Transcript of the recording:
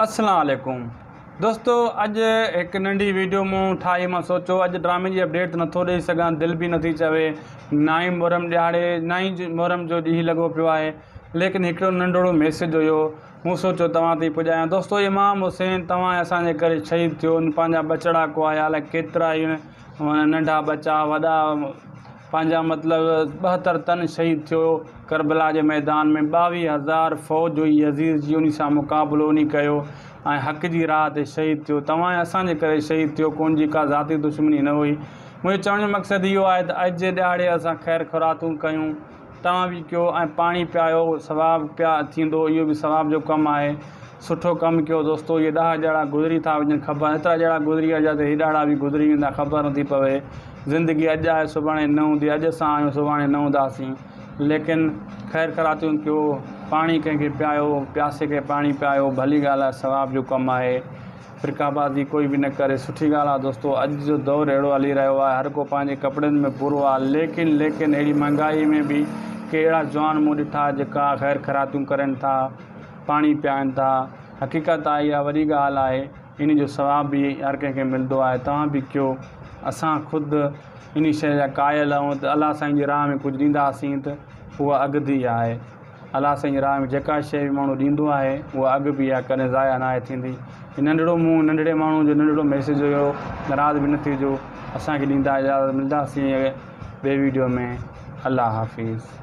اسلام عليڪم دوستو اڄ هڪ ننڍي ويڊيو مون ٺاهي مان سوچو اڄ ڊرامي جي اپڊيٽ ته نٿو ڏئي سگهان دل به نٿي چوي نه ئي محرم ڏهاڙي نه ئي محرم جو ڏينهن لڳو پيو آهي ليڪن هڪڙو ننڍڙو ميسيج هيو مون سوچو توهان تائين پڄايان دوستو امام حسين توهان ۽ اسان جي ڪري شهيد ٿيو ان پنهنجا ٻچڙا ڪهايا الائي ڪيترا هن ننڍا ٻچا وڏا پنهنجا مطلب ٻهتر تن شهيد ٿيو ڪربلا جي ميدان ۾ ٻاويهه هزار فوج هئي يزيد جي انهي سان مقابلو انهي ڪيو ۽ حق جي راهه تي شهيد ٿيو توهان ۽ اسان جي ڪري شهيد ٿيو ڪون جي ڪا ذاتي دشمني نه هئي منهنجو چوڻ جو مقصد اهو آهي ته اڄ جي ڏهاڙي اسان خير خراتون ڪيون توهان به ڪيو ۽ پاڻي پيايو ثواب پيا ٿيندو اهو به ثواب جو ڪم آهي سٺو ڪم ڪيو دوستو اهي ڏاهه جهڙا گذري ٿا وڃن خبر ايترا جهڙا گذري ويا جيئن هيڏاڙا به گذري ويندا خبر نٿي پوي زندگي اڄ آهي سڀاڻي نه هوندي اڄ اسان آهيون سڀاڻي نه هونداسين ليڪن خير خيراتيون ڪيو پاڻي ڪنهن کي پيايو پياسي کي پاڻي پيايو ڀلي ڳالهه آهي ثواب جو ڪم آهي فرقه بازي ڪوئي به نه ڪري. سٺي ڳالهه آهي دوستو اڄ جو دور اهڙو هلي رهيو آهي هر ڪو پنهنجي ڪپڙن ۾ پورو آهي ليڪن ليڪن اهڙي مهنگائي ۾ به ڪي اهڙا جوان مون ڏٺا جيڪا خير خيراتيون ڪرين ٿا پاڻي پيائن ٿا حقيقت آهي اها وڏي ڳالهه آهي انهي جو ثواب به هر ڪنهن کي ملندو آهي توهان به ڪيو اسان خود انهي شيء جا قائل آهيون ته الله سائين جي راهه ۾ ڪجهه ڏينداسين ته اها اڳڌي آهي. الله سائين راهه ۾ جيڪا شيء به ماڻهو ڏيندو آهي، اها اڳ به يا ڪڏهن ضايع ناهي ٿيندي. هي ننڍڙو منهن، ننڍڙي ماڻهو جو ننڍڙو ميسيج هيو، ناراض به نه ٿيجو. اسان کي ڏيندا اجازت ملداسين اڳئين ٻئي ويڊيو ۾ الله حافظ.